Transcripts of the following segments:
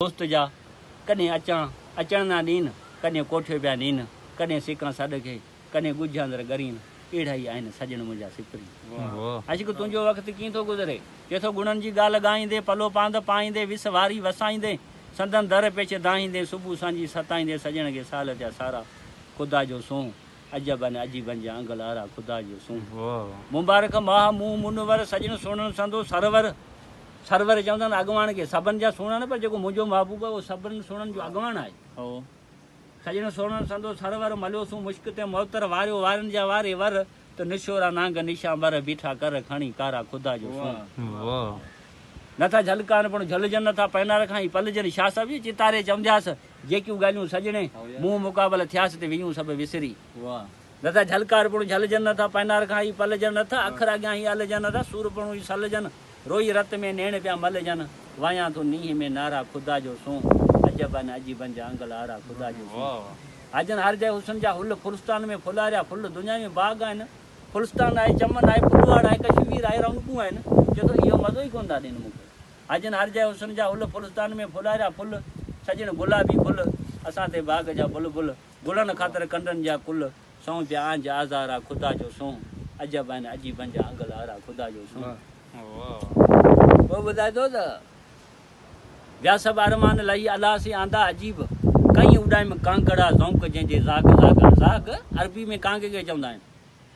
دوست جا ڪڏهن اچڻ اچڻ نه ڏين، ڪڏهن ڪوٺيو پيا نين، ڪڏهن سڪان سڏ کي، ڪڏهن ڳجهه اندر ڳرين، اهڙا ئي آهن سڄڻ منهنجا سپرين. عشق تنهنجو وقت ڪيئن ٿو گذري، ڪي ٿو گڻن جي ڳالهه ڳائيندين، پلو پاند پائيندين، وس واري وسائيندين، سندن در پيچ دانهيندين، صبح سانجهي ستائيندين، سڄڻ کي سال ٿيا سارا، خدا جو سونهن، عجب ان عجيبن جا انگ لارا خدا جو سونهن مبارڪ ماهه مون منور سڄڻ سهڻڻ سندو سرور سرور چوندا آهن اڳواڻ کي سڀن جا سهڻا نه پر جيڪو منهنجو محبوب اهو سڀن سهڻن جو اڳواڻ آهي سڄڻ سهڻڻ سندو سرور مليو سون مشڪ تي معطر واريو وارن جا واري ور ته نشورا نانگ نشان بر بيٺا ڪر کڻي ڪارا خدا جو سونهن نٿا جهلڪان پڻ جهلجن نٿا پينار کان ئي پلجن شاهه صاحب جي چتاري چوندياس جيڪيون ڳالهيون سڄڻي، منهن مقابل ٿياس تي ويون سڀ وسري. دادا جهلڪار پڻ جهلجن نٿا، پئنار کان هي پلجن نٿا، اکر اڳيان هي الجن نٿا، سور پڻ هي سلجن، روئي رت ۾ نيڻ پيا ملجن، وايان ٿو نينهن ۾ نارا خدا جو سون، عجب آ نه عجيبن جا انگ لارا خدا جو سون. آجن هر جاء حسن جا هل، ڦلستان ۾ ڦلاريا ڦل، دنيا ۾ باغ آهن، ڦلستان آهي، چمن آهي، ڦلواڙ آهي، ڪشمير آهي، رونقون آهن، چوٿو اهو مزو ئي ڪونه ٿا ڏين مون کي. اڄن هر جئه حسن جا هل ڦلستان ۾ ڦلاريا ڦل سڄڻ گلابي گل اسان تي باغ جا بلبل گلن خاطر ڪنڊن جا ڪل سونهن پيا آنج آزار آ خدا جو سونهن عجب آهن عجيبن جا انگ لار آ خدا جو سونهن. پوء ٻڌائي ٿو ته. ٻيا سڀ ارمان لهي الهه سين آندا عجيب ڪئين اڏائيم ڪانگڙ آ زونق جنهن جي زاغ زاغ زاغ عربي ۾ ڪانگي کي چوندا آهن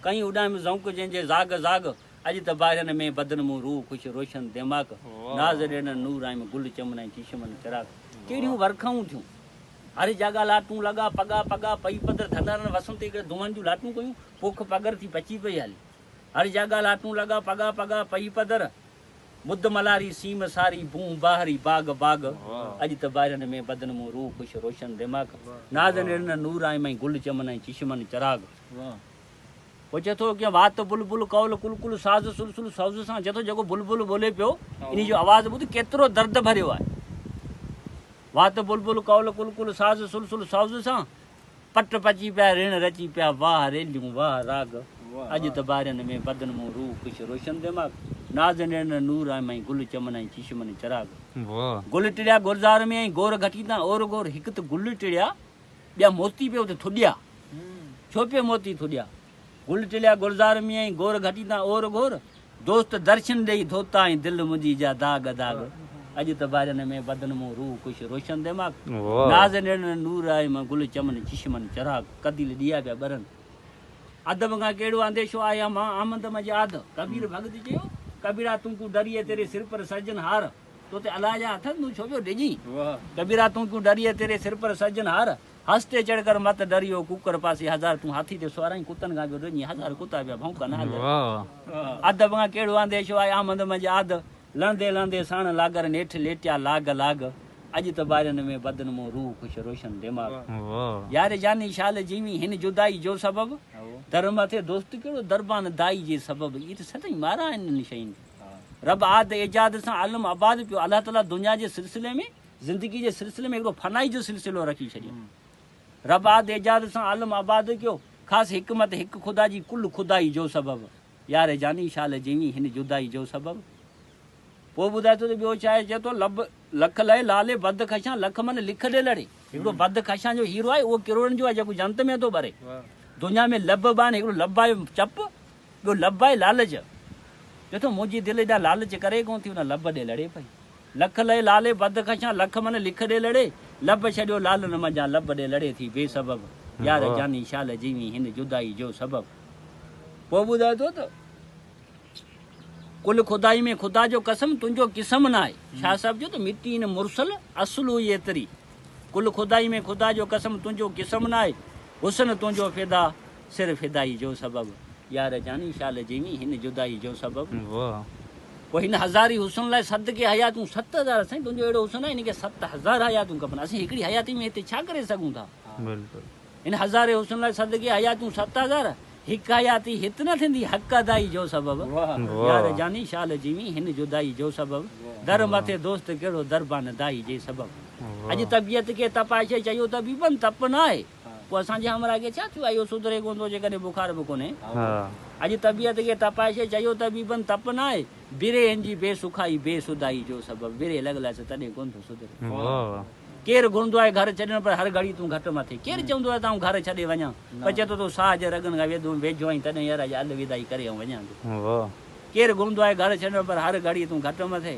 ڪئين اڏائيم زونق جنهن جي زاغ زاغ اڄ ته باهرن ۾ بدن مون روح خوش روشن ديماڪ ناز ڏيڻن نور آيم گل چمن ۽ چشمن چراغ ڪهڙيون ورکائون ٿيون هر جاڳا لاٽون لڳا پڳا پڳا پئي پڌر ڌنارن وسن تي ڪري دونهن جون لاٽون ڪيون پوک پگهر ٿي پچي پئي هلي هر جاڳا لاٽون لڳا پڳا پڳا پئي پڌر ٻڌ ملاري سيم ساري بونهه باهري باغ باغ اڄ ته باهرن ۾ بدن مون روح خوش روشن ديماڪ ناز ڏيڻن نور آيم گل چمن ۽ چشمن چراغ. هو چئي ٿو، ڪيئن وات بلبل قول قلقل ساز سلسل سوز سان چئي ٿو جيڪو بلبل ٻولي پيو انهي جو آواز ٻڌ ڪيترو درد ڀريو آهي. وات بلبل قول قلقل ساز سلسل سوز سان پٽ پچي پيا رڻ رچي پيا واهه ريليون واهه راڳ اڄ ته بارين ۾ بدن مون روح خوش روشن دماغ ناز نيڻن نور آهي مئي گل چمن ۽ چشمن چراغ گل ٽڙيا گلزار ۾ ۽ گور گهٽي تان اور گور هڪ ته گل ٽڙيا ٻيا موتي پيو ته ٿڏيا، ڇو پيو موتي ٿڏيا. گل ٽليا گلزار ۾ ۽ گور گهٽي تان اور گور. دوست درشن ڏيئي ڌوتا ۽ دل منهنجي جا داغ داغ. اڄ ته ڀارين ۾ بدن مون روح خوش روشن دماغ. ناز نيڻن نور آهي مان گل چمن چشمن چراغ. قديل ڏيئا پيا ٻرن ادب کان ڪهڙو انديشو آهي امان آمد مجهه آڌ. ڪبير ڀڳت چيو ڪبيرا تون ڪو ڊريئي تيري سر پر سرجن هار. تو تي الاء جا اٿن تون ڇو پيو ڊڄين. ڪبيرا تون ڪيون ڊريئي تيري سر پر سرجن هار هس تي چڙ ڪر مت ڊري او ڪوڪڙ پاسي هزار تون هاٿي تي سوارئين ڪتن کان پيو ڊڄين هزار ڪتا پيا ڀونڪن آڳ ادب کان ڪهڙو آنديشو آهي آمد منجهه آڌ لهندي لهندي ساڻ لاگر نيٺ ليٽيا لاڳ لاڳ اڄ ته ٻارين ۾ بدن مون روح خوش روشن دماغ يار جاني شال جيوين هن جدائي جو سبب در مٿي دوست ڪهڙو دربان دائي جي سبب ايت ستئين مارا آهن انهن شين کي. رب آد ايجاد سان عالم آباد پيو الله تعالي دنيا جي سلسلي ۾ زندگي جي سلسلي ۾ هڪڙو فنائي جو سلسلو رکي ڇڏيو رب آد ايجاد سان عالم آباد ڪيو خاص حڪمت هڪ خدا جي ڪل خدائي جو سبب يار جاني شال جيوين هن جدائي جو سبب پوء ٻڌائي ٿو ته ٻيو ڇا آهي چئي ٿو لب لک لئي لالي بد خشان لک من لک ڏي لڙي هڪڙو بد خشان جو هيرو آهي اهو ڪروڙن جو آهي جيڪو جنت ۾ ٿو ٻري دنيا ۾ لب بان هڪڙو لب آهي چپ ٻيو لڀ آهي لالچ. ڏٺو منهنجي دل ايڏا لالچ ڪري ڪونه ٿي ان لڀ ڏي لڙي پئي. لک لئي لالي بد خشان لک من لک ڏي لڙي. لڀ ڇڏيو لالن منجهان لڀ ڏي لڙي ٿي بي سبب. يار جاني شال جيوين هن جدائي جو سبب. پوء ٻڌائي ٿو ته. ڪل خدائي ۾ خدا جو قسم تنهنجو قسم ناهي. شاهه صاحب چيو ته مٽي نه مرسل اصل هئي ايتري. ڪل خدائي ۾ خدا جو قسم تنهنجو قسم ناهي. حسن تنهنجو فدا. سر فدائي جو سبب. يار جاني شال جيوين هن جدائي جو سبب. واھ. پوء هن هزاري حسن لاء سد ڪي حياتون ست هزار سائين تنهنجو اهڙو حسن آهي هن کي ست هزار حياتون کپن اسين هڪڙي حياتي ۾ هتي ڇا ڪري سگهون ٿا بلڪل. هن هزاري حسن لاء سد ڪي حياتون ست هزار هڪ حياتي هت نه ٿيندي حق ادائي جو سبب. يار جاني شال جيوين هن جدائي جو سبب. در مٿي دوست ڪهڙو دربان دائي جي سبب. اڄ طبيعت کي تپائشي چيو طبيبن تپ نه آهي. پوء اسان جي همراهه کي ڇا ٿيو آهي، اهو سڌري ڪونه ٿو جيڪڏهن بخار به ڪونهي. اڄ طبيعت کي تپائشي چيو طبيبن تپ ناهي، بري هن جي بي سکائي بي سڌائي جو سبب بري لڳل آهي سو تڏهن ڪونه ٿو سڌري. ڪير گهرندو آهي گهر ڇڏڻ پر هر گهڙي تون گهٽ مٿي ڪير چوندو آهي ته آئون گهر ڇڏي وڃان پر چئي ٿو تو ساهه جي رڳن کان ويڌو ويجهو آهين تڏهن يار اڄ الوداعي ڪري آئون وڃان ٿو. ڪير گهرندو آهي گهر ڇڏڻ پر هر گهڙي تون گهٽ مٿي.